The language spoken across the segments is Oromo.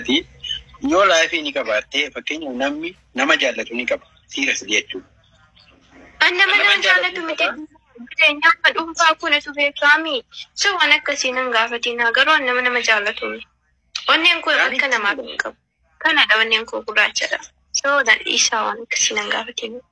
Ati yoo laayifii ni qabaattee fakkeenyaaf namni nama jaallatu ni qaba siirasi jechuudha. An nama Nama naan jaalatu jaalatu miti qaba. jireenyaa akka dhuunfaa koo natu beekaami. So waan akkasii nan gaafatinaa garuu an nama nama jaalatu miti. Onneen koo Yaani- akka namaaf hin qabu. Kanadha onneen koo gurraachadha. So nan dhiisaa waan akkasii nan gaafatinaa.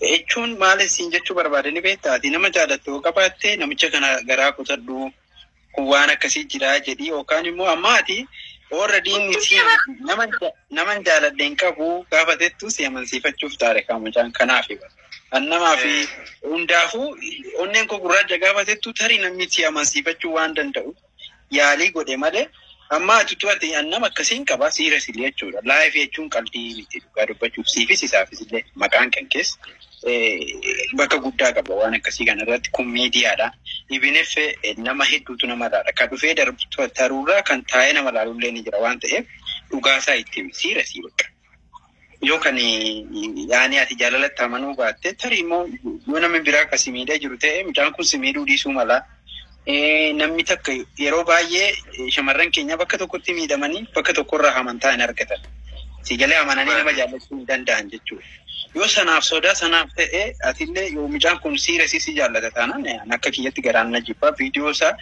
Jechuun maal isin jechuu barbaade ni beektaa? Ati nama jaalattu yoo qabaatte namicha kana garaa kutadhu kun waan akkasii jira jedhi yookaan immoo amma ati already inni si nama nama hin jaaladhe hin qabu gaafa jettu si amansiifachuuf taare kan mucaan kanaaf an namaa fi hundaafuu onneen koo gurraacha gaafa jettu tarii namni si amansiifachuu waan danda'u yaalii godhe malee amma ati utuu ati an nama akkasiin qaba siira sili jechuudha. Live jechuun qalbii miti dhugaa dubbachuuf siifis isaafis illee maqaan kan kees bakka guddaa qaba waan akkasii kana irratti kun miidiyaadha. Ibinif nama hedduutu nama ilaala. Kan dhufee darbu taruurraa kan taa'ee nama ilaalullee ni jira waan ta'eef dhugaasaa itti himi siira sii bakka. Yoo kan yaani ati jaalalatti amanuu baatte tarii immoo yoo namni biraa akka si miidhaa jiru ta'e mucaan kun si miidhuu dhiisuu mala. Eh, Namni takka yeroo baay'ee eh, shamarran keenya bakka tokkotti miidhamanii bakka tokkorraa amantaa hin argatan. Si galee amananii nama jaallachuu hin danda'an jechuudha. Yoo sanaaf sodaa sanaaf ta'e atillee yoo mucaan kun siira si si jaallata taanaan eh, akka kiyyatti garaan na jibbaa viidiyoo isaa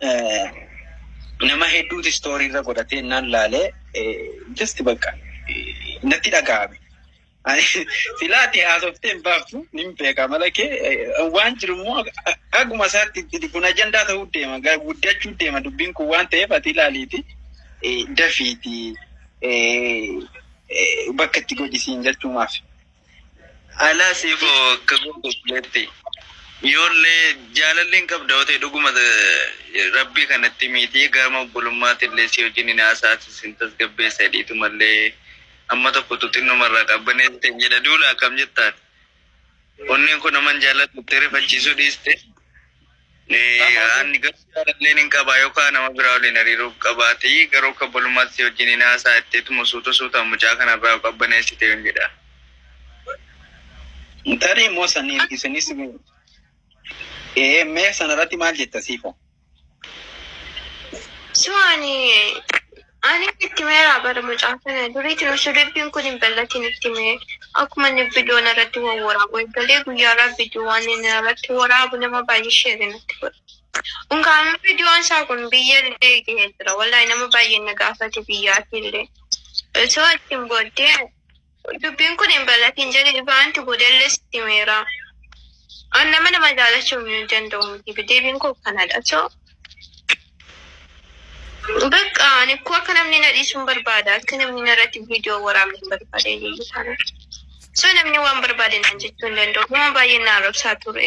eh, nama hedduuti istoorii irra godhatee naan laalee just bakka natti dhaga'ame. Filaati haasoftee hin baaftu nin beeka mala kee waan jiru immoo akkuma isaatti kun ajandaa ta'uu deema guddachuu deema dubbiin kun waan ta'eef ati ilaaliiti dafiiti bakka itti godhisiin jechuumaaf. Alaa siif kagoo gobleetti. Yoollee jaalalleen qabda otee dhuguma rabbii kanatti miitii gaama obbolummaatti illee si wajjin hin haasa'aati sin tasgabbeessa hidhiitu mallee amma tokkotu xinnuma irraa qabbaneessite hin jedha duula akkam jettaan onneen koo naman jaalladhutti rifachiisuu dhiiste Ani garuu jaalalleen hin qaba yookaan nama biraa waliin hariiroo qabaate garuu akka obbolummaatti si wajjin hin haasa'a jetteetuma suuta suutaan mucaa kanarraa of qabbaneessite yoon jedha. Tarii immoo saniin isinis ee mee sanarratti maal jetta siifoo? So ani Ani itti meeraa bara mucaa kana duriitiin osoo dubbiin kun hin bal'atiin itti mee akkuma inni bidoo narratti wawwaraabu eegalee guyyaarraa bidoo waan inni narratti waraabu nama baay'ee sheerii natti godha. Unkaan bidoon isaa kun biyya illee gahee jira. Wallahi nama baay'ee na gaafate biyyaatii illee. Osoo ittiin booddee Dubbiin kun hin bal'atiin jedhee ifaanti boodallee sitti himeera. An nama nama jaalachuun hin danda'u miti. Deebiin koo kanadha. So, bakka ani akkoo akka namni na dhiisuun barbaada. Akka namni narratti viidiyoo waraabne hin barbaade iyyuu taana. So namni waan barbaade naan jechuu hin danda'u. Nama baay'ee na arrabsaa ture.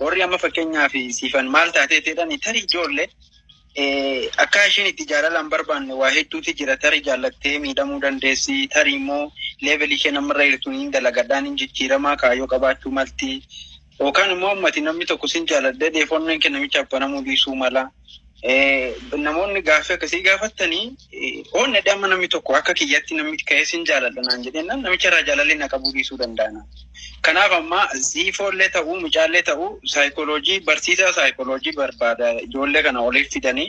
Warri amma fakkeenyaaf siifan maal taatee jedhani tarii ijoolle akka ishiin itti jaalala hin barbaanne waa hedduutu jira. Tarii jaallattee miidhamuu dandeessi. Tarii immoo leevelii isheen ammarra jirtu hin dalagadhaan hin jijjiiramaa kaayyoo qabaachuu malti. Yookaan immoo ammati namni tokko sin jaaladhee dheefonnoon kee namichaaf banamuu dhiisuu mala. Namoonni gaaffii akkasii gaafattanii oon nadhee amma namni tokko akka kiyyatti namni ka'ee sin jaaladha naan jedhennaan namicha irraa jaalallee na qabuu dhiisuu danda'a. Kanaaf ammaa ziifoollee ta'uu mucaallee ta'uu saayikooloojii barsiisaa saayikooloojii barbaada ijoollee kana oliif fidanii